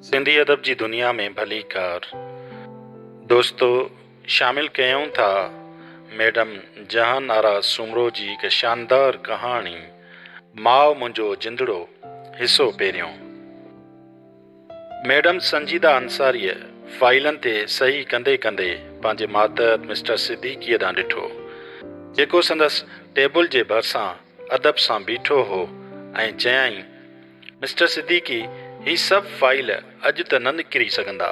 سنڌي ادب جي دنيا ۾ ڀليڪار دوستو شامل ڪيون ٿا ميڊم جهان آرا سومرو جي هڪ شاندار ڪهاڻي ماء منهنجو جندڙو حصو پهريون. ميڊم سنجيده انصاريء فائيلن تي صحيح ڪندي ڪندي پنهنجي ماتحت مسٽر صديقيء ڏانهن ڏٺو، جيڪو سندس ٽيبل جي ڀرسان ادب سان بيٺو هو ۽ چيائين، مسٽر صديقي، هي سڀ فائيل اڄ ته نه نڪري سگهندا.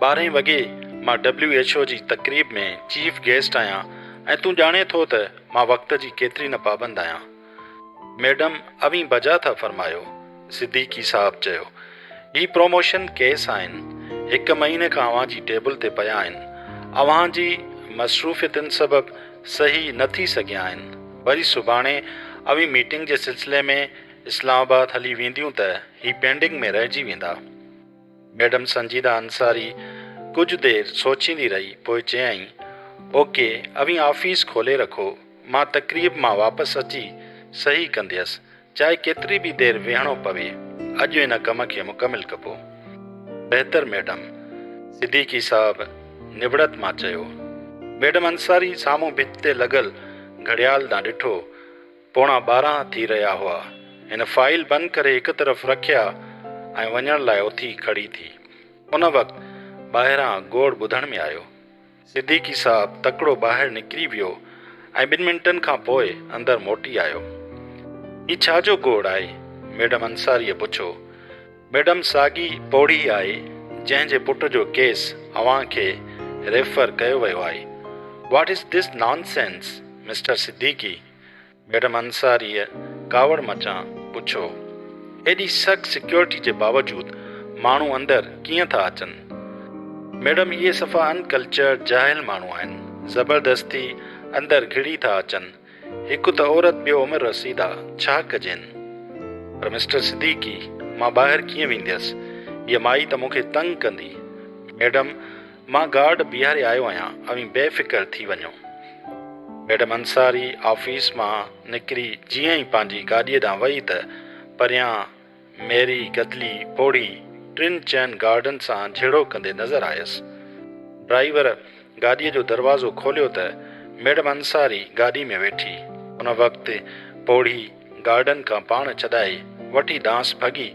ٻارهين وڳي مان ڊبليو ايڇ او جي تقريب ۾ چيف گيسٽ آهيان ۽ تون ڄاڻين ٿو ته مان وقت جي ڪيتري نه پابند آهيان. ميڊم اوهين بجا ٿا فرمايو. صديقي صاحب چيو، هي پروموشن ڪيس آهن، هڪ مهيني کان اوهان جي ٽيبل تي پيا آهن، اوهان جي مصروفيتن سبب صحيح نه ٿي سگهيا آهن، وري سڀاڻي اوهين ميٽنگ جي سلسلي ۾ اسلام آباد هلي وينديون ته هي پينڊنگ ۾ رهجي ويندا. ميڊم سنجيده انصاري ڪجهه دير سوچيندي رهي، پوء چيائين، اوڪي، اوهين آفيس کولي رکو. مان تقريب مان واپس اچي صحيح ڪنديس، چاهي ڪيتري به دير ويهڻو پوي، اڄ ان ڪم کي مڪمل ڪبو. بهتر ميڊم. صديقي صاحب نوڙت مان چيو. ميڊم انصاري سامهون ڀت تي لڳل گهڙيال ڏانهن ڏٺو. پوڻا ٻارهن ٿي رهيا هئا. هن فائيل بند ڪري هڪ طرف رکيا ۽ وڃڻ لاء اٿي کڙي ٿي. ان وقت ٻاهران گوڙ ٻڌڻ ۾ آيو. صديقي صاحب تڪڙو ٻاهر نڪري ويو ۽ ٻن منٽن کان پوء اندر موٽي آيو. هي ڇا جو گوڙ آهي؟ ميڊم انصاريء پڇو. ميڊم ساڳي پوڙهي آهي جنهن جي پٽ جو ڪيس اوهان کي ريفر ڪيو ويو آهي. What is this nonsense mister Siddiqui? Madam انصاريء ڪاوڙ مچان پڇيو، ايڏي سخت سيڪيورٽي جي باوجود ماڻهو اندر ڪيئن ٿا اچن؟ ميڊم اهي صفا ان ڪلچرڊ جاهل ماڻهو آهن، زبردستي اندر گهڙي ٿا اچن، هڪ ته عورت ٻيو عمر رسيده، ڇا ڪجين؟ پر مسٽر صديقي مان ٻاهر ڪيئن وينديس، هيء مائي ته مون کي تنگ ڪندي، ميڊم مان گارڊ بيهاري آيو آهيان، اوهين بي فڪر ٿي وڃو. ميڊم انصاري آفيس مان نڪري جيئن ئي پنهنجي گاڏيء ڏانهن وئي ته پريان ميري گدلي پوڙهي ٽن چئن گارڊن سان جهيڙو ڪندي نظر آيس. ڊرائيور گاڏيء جو دروازو کوليو ته ميڊم انصاري گاڏي ۾ ويٺي. ان وقت پوڙهي. گارڊن کان پاڻ ڇڏائي وٺي ڏانهس ڀڳي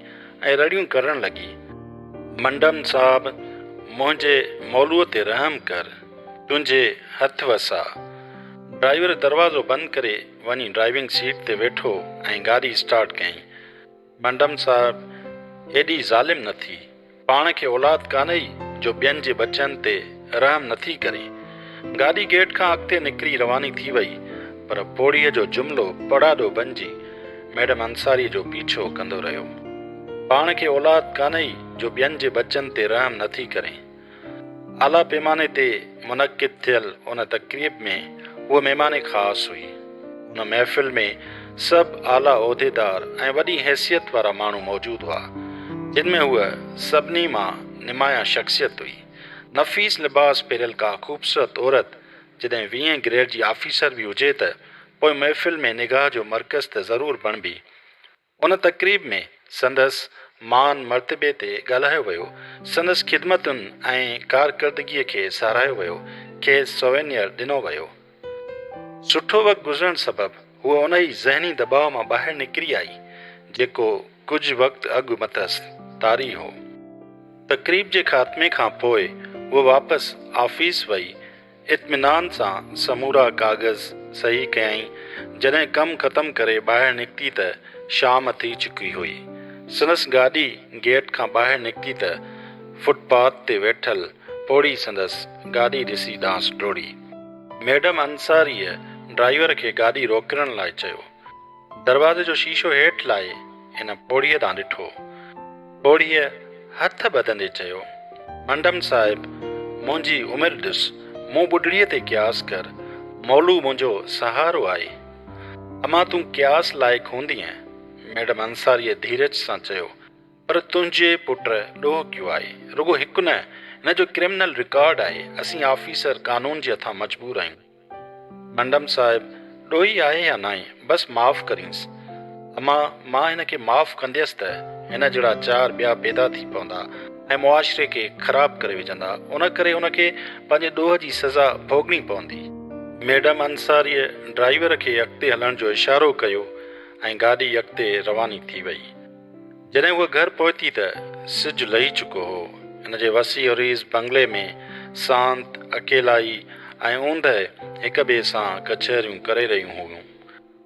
۽ رڙيون ڪرڻ لڳي. منڊم صاحب! منهنجي مولوء تي رحم ڪر، تنهنجي هٿ وساء. ڊرائيور دروازو بند ڪري وڃي ڊرائيونگ سيٽ تي ويٺو ۽ گاڏي اسٽارٽ ڪيائين. منڊم صاحب ايڏي ظالم نه ٿي. پاڻ کي اولاد ڪانهي جو ٻين جي ٻچن تي رحم نه ٿي ڪري. گاڏي گيٽ کان اڳتي نڪري رواني ٿي وئي پر پوڙهيء جو جملو پڙاڏو بنجي ميڊم انصاريء جو پيڇو ڪندو رهيو. پاڻ کي اولاد ڪانهي جو ٻين جي ٻچن تي رحم نه ٿي ڪري. اعليٰ پيماني تي منعقد ٿيل ان تقريب ۾ هوء مهمان خاص هئي. ان محفل ۾ سڀ اعليٰ عهديدار ۽ وڏي حيثيت وارا ماڻهو موجود هئا، جن ۾ هوء سڀني مان نمايان شخصيت هئي. نفيس لباس پهريل ڪا خوبصورت عورت جڏهن ويهين گريڊ جي آفيسر به هجي ته پوء محفل ۾ نگاهه جو مرڪز ته ضرور بڻبي. ان تقريب ۾ سندس مان مرتبي تي ڳالهايو ويو، سندس خدمتن ۽ ڪارڪردگيء کي ساراهيو ويو، کيس سووينيئر ڏنو ويو. سٺو وقت گذرڻ سبب هوء انهي ذهني دٻاء مان ٻاهر نڪري آئي، جيڪو ڪجهه وقت اڳ مٿس طاري هو. تقريب جي خاتمي کان پوء هوء واپس آفيس وئي. اطمينان سان سمورا ڪاغذ صحيح ڪيائين، جڏهن ڪم ختم ڪري ٻاهر نڪتي ته شام ٿي چڪي هئي. سندس گاڏي گيٽ کان ٻاهر نڪتي ته فٽ پاٿ تي ويٺل پوڙهي سندس گاڏي ڏسي ڏانهس ڊوڙي. ميڊم انصاريء ڊرائيور کي گاڏي روڪڻ لاء چيو. دروازي جو شيشو هيٺ لاهي هن پوڙهيء ڏانهن ڏٺو. پوڙهيء هٿ ٻڌندي چيو، منڊم صاحب، منهنجي عمر ڏس، مون ٻڍڙيء تي قياس ڪر، مولو منهنجو سهارو آهي. امان تون قياس لائق هوندينء. ميڊم انصاريء ڌيرج سان چيو، پر تنهنجي پٽ ڏوهڪيو آهي. رڳو هڪ نه، هن جو ڪرمنل رڪارڊ آهي. اسين آفيسر قانون جي هٿان مجبور آهيون. منڊم صاحب، ڏوهي آهي يا ناهي، بس معاف ڪرينس. اما، مان هن کي معاف ڪنديس ته هن جهڙا چار ٻيا پيدا ٿي پوندا ۽ معاشري کي خراب ڪري وجهندا، ان ڪري ان کي پنهنجي ڏوهه جي سزا ڀوڳڻي پوندي. ميڊم انصاريء ڊرائيور کي اڳتي هلڻ جو اشارو ڪيو ۽ گاڏي اڳتي رواني ٿي وئي. جڏهن هوء گهر پهتي ته سج لهي چڪو هو. هن جي وسيع و ريز بنگلي ۾ سانت، اڪيلائي ۽ اوندهه هڪ ٻئي سان ڪچهريون ڪري رهيون هيون.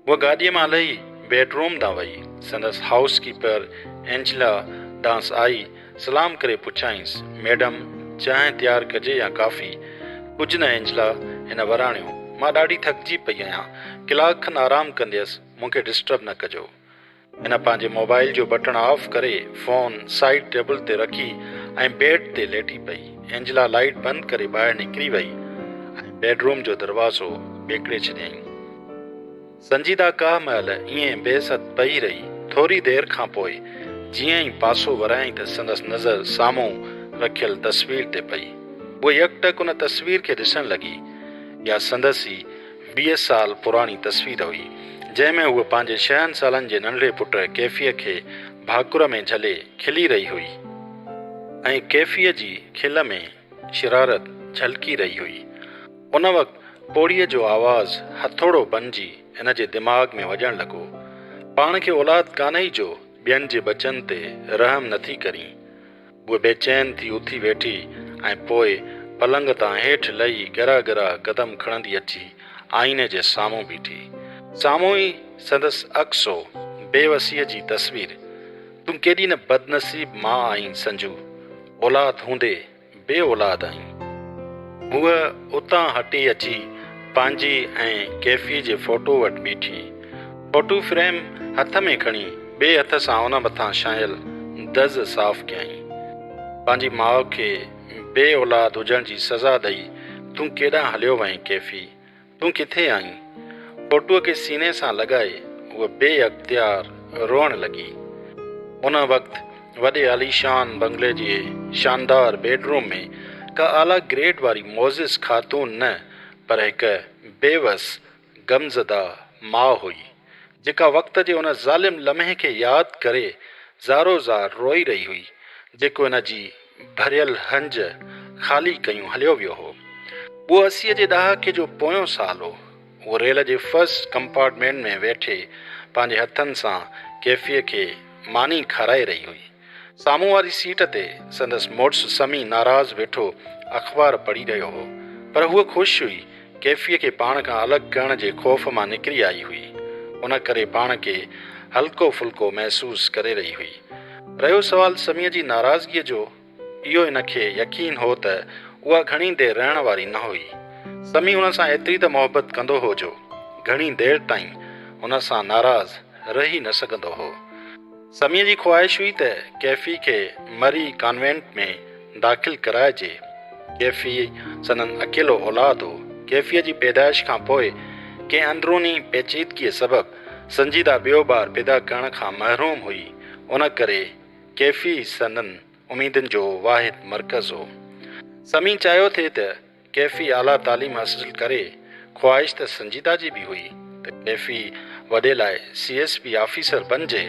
هوء گاڏيء مان لهي بيڊ روم ڏانهن وئي. سندس هائوس ڪيپر اينجلا ڏانهس آئي، سلام ڪري پڇيائينس، ميڊم، چانهه تيار ڪجي يا ڪافي؟ ڪجهه نه اينجلا، هن وراڻيو، مان ڏاڍي ٿڪجي پئي آهيان، ڪلاڪ کن آرام ڪنديس، مون کي ڊسٽرب نه ڪجو. هن پنهنجي موبائيل جو بٽڻ آف ڪري فون سائيڊ ٽيبل تي رکي ۽ بيڊ تي ليٽي پئي. اينجلا لائيٽ بند ڪري ٻاهر نڪري وئي ۽ بيڊ روم جو دروازو ٻيڪڙي ڇڏيائين. سنجيده ڪا مهل ائين بي ست پئي رهي. ٿوري دير کان پوء جيئن ئي پاسو ورايائين ته سندس نظر سامهون رکيل تصوير تي پئي. هوء يڪٽڪ ان تصوير کي ڏسڻ لڳي. اها سندس ئي ويهه سال پراڻي تصوير هئي، جنهن ۾ هوء پنهنجي شهن سالن جي ننڍڙي پٽ ڪيفيء کي ڀاڪر ۾ جهلي کلي رهي هئي ۽ ڪيفيء جي کل ۾ شرارت جهلڪي رهي هئي. ان وقت پوڙهيء جو آواز هٿوڙو بنجي هن جي دماغ ۾ وڄڻ لڳو. پاڻ کي اولاد ڪانهي جو ٻين جي ٻچن تي رحم نٿي ڪرين. هوء بي چين ٿي اٿي ويٺي ۽ پوء پلنگ تان هيٺ لهي ڳرا ڳرا قدم کڻندي اچي آئيني جي سامهون بيٺي. سامهون ئي سندس عڪس هو، بي وسيء جي تصوير. تون ڪيڏي نه بدنصيب ماء آهين سنجو، اولاد هوندي بي اولاد آهين. هوء اتان هٽي اچي پنهنجي ۽ ڪيفيء جي فوٽوء وٽ بيٺي. فوٽو فريم هٿ ۾ کڻي ٻئي هٿ سان ان مٿان ڇانيل دز صاف ڪيائين. پنهنجي ماء کي بي اولاد هجڻ جي سزا ڏئي تون ڪيڏانهن هليو وئين ڪيفي؟ تون ڪٿي آهين؟ فوٽوء کي سيني سان لڳائي هوء بي اختيار روئڻ لڳي. ان وقت وڏي عاليشان بنگلي جي شاندار بيڊ روم ۾ ڪا اعليٰ گريڊ واري معزز خاتون نه پر هڪ بيوس غمزده ماء هئي، جيڪا وقت جي ان ظالم لمحي کي ياد ڪري زارو زار روئي رهي هئي، جيڪو ان جي ڀريل هنج خالي ڪيون هليو ويو هو. اهو اسيء جي ڏهاڪي جو پويون سال هو. هوء ريل جي فرسٽ ڪمپارٽمينٽ ۾ ويٺي پنهنجي هٿن سان ڪيفيء کي ماني کارائي رهي هئي. سامهون واري سيٽ تي سندس مڙس سمي ناراض ويٺو اخبار پڙهي رهيو هو، پر هوء خوش هئي، ڪيفيء کي پاڻ کان الڳ ڪرڻ جي خوف مان نڪري آئي هئي، ان ڪري پاڻ کي هلڪو ڦلڪو محسوس ڪري رهي هئي. رهيو سوال سميء جي ناراضگيء جو، اهو هن کي يقين هو ته اها گهڻي دير رهڻ واري نه هئي. سمي هن سان ايتري ته محبت ڪندو هو جو گهڻي دير تائين هن سان ناراض رهي نه سگهندو هو. سميء جي خواهش هئي ته ڪيفي کي مري ڪانوينٽ ۾ داخل ڪرائجي. ڪيفي سندن اڪيلو اولاد هو. ڪيفيء جي پيدائش کان پوء ڪنهن اندروني پيچيدگيء سبب سنجيده ٻيو ٻار پيدا ڪرڻ کان محروم هئي، ان ڪري ڪيفي سندن اميدن جو واحد مرڪز هو. سمي چاهيو ٿي ته ڪيفي اعليٰ تعليم حاصل ڪري، خواهش ته سنجيده جي به هئي ته ڪيفي وڏي لاء سي ايس پي آفيسر بنجي،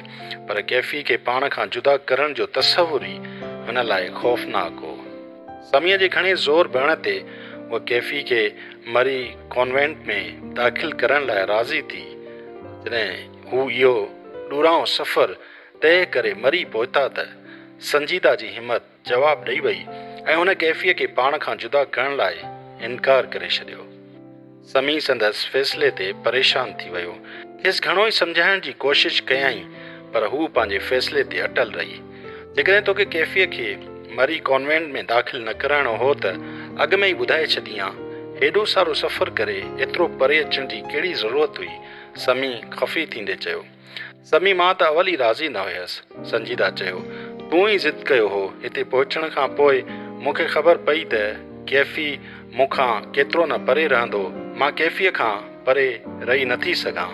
پر ڪيفي کي پاڻ کان جدا ڪرڻ جو تصور ئي هن لاء خوفناڪ هو. سميء جي گهڻي زور ڀرڻ تي هوء ڪيفي کي مري ڪانوينٽ ۾ داخل ڪرڻ لاء راضي ٿي، پر جڏهن هو اهو ڏورانهون سفر طئه ڪري مري پهتا ته سنجيده جي همت جواب ڏئي وئي ۽ هن ڪيفيء کي پاڻ کان جدا ڪرڻ لاء انڪار ڪري ڇڏيو. سمي سندس فيصلي تي پريشان ٿي ويو. کيس گهڻو ئي سمجهائڻ جي ڪوشش ڪيائين پر هوء پنهنجي فيصلي تي اٽل رهي. جيڪڏهن توکي ڪيفيء کي مري ڪانوينٽ ۾ داخل نه ڪرائڻو هو ته اڳ ۾ ئي ٻڌائي ڇڏينهان. هيڏو سارو سفر ڪري ايترو پري اچڻ جي ڪهڙي ضرورت هئي؟ سمي خفي ٿيندي چيو. سمي مان ته اول ئي راضي نه هيس. سنجيده چيو، تون ئي ضد ڪيو هو. هتي پهچڻ کان پوء مون کي خبر پئي ته ڪيفي مون کان ڪيترو نه پري رهندو. مان ڪيفيء کان پري رهي نه ٿي سگهان.